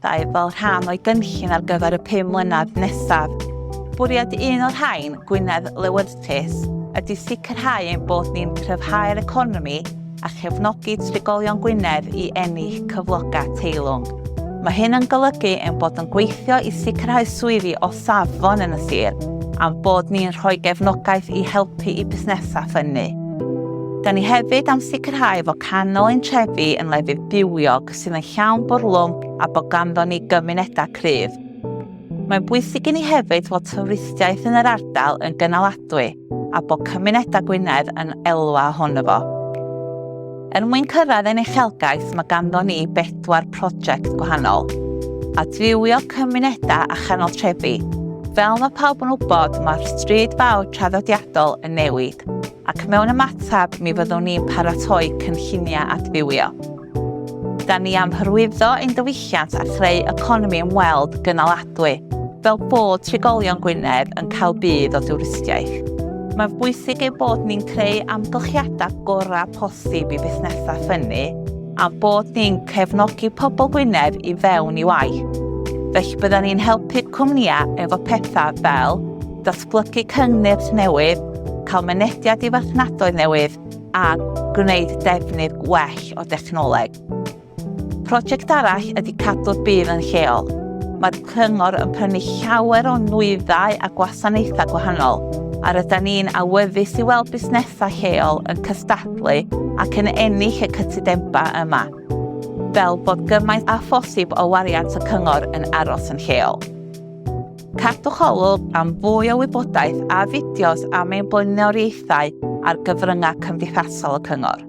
gweithgareddau fel rhan o'i gynllun ar gyfer y pum mlynedd nesaf. Bwriad un o'r rhain, Gwynedd Lewyrchus, ydy sicrhau ein bod ni'n cryfhau'r economi a chefnogi trigolion Gwynedd i ennill cyflogau teilwng. Mae hyn yn golygu ein bod yn gweithio i sicrhau swyddi o safon yn y sir a'n bod ni'n rhoi gefnogaeth i helpu i busnesau ffynnu. Da ni hefyd am sicrhau fod canol ein trefi yn lefydd bywiog sydd yn llawn bwrlwm a bod ganddo ni gymunedau cryf. Mae'n bwysig i ni hefyd fod twristiaeth yn yr ardal yn gynaladwy a bod cymunedau Gwynedd yn elwa hwn fo. Er mwyn cyrraedd ein uchelgais mae ganddo ni bedwar prosiect gwahanol. Adfywio cymunedau a chanol trefi, fel mae pawb yn wybod, mae'r stryd fawr traddodiadol yn newid, ac mewn ymateb mi fyddwn ni'n paratoi cynlluniau adfywio. Da ni am hyrwyddo ein diwylliant a chreu economi ymweld gynaladwy, fel bod trigolion Gwynedd yn cael budd o dwristiaeth. Mae'n bwysig ein bod ni'n creu amgylchiadau gorau posib i fusnesau ffynnu a'n bod ni'n cefnogi pobl Gwynedd i fewn i waith. Felly byddan ni'n helpu'r cwmnïau efo pethau fel datblygu cyngnyrch newydd, cael mynediad i farchnadoedd newydd, a gwneud defnydd gwell o dechnoleg. Prosiect arall ydy cadw'r byd yn lleol. Mae'r cyngor yn prynu llawer o nwyddau a gwasanaethau gwahanol, a rydyn ni'n awyddus i weld busnesau lleol yn cystadlu ac yn ennill y cytudemba yma, fel bod gymaint â phosib o wariant y cyngor yn aros yn lleol. Cadwch olwg am fwy o wybodaeth a fideos am ein blaenoriaethau ar gyfryngau cymdeithasol y Cyngor.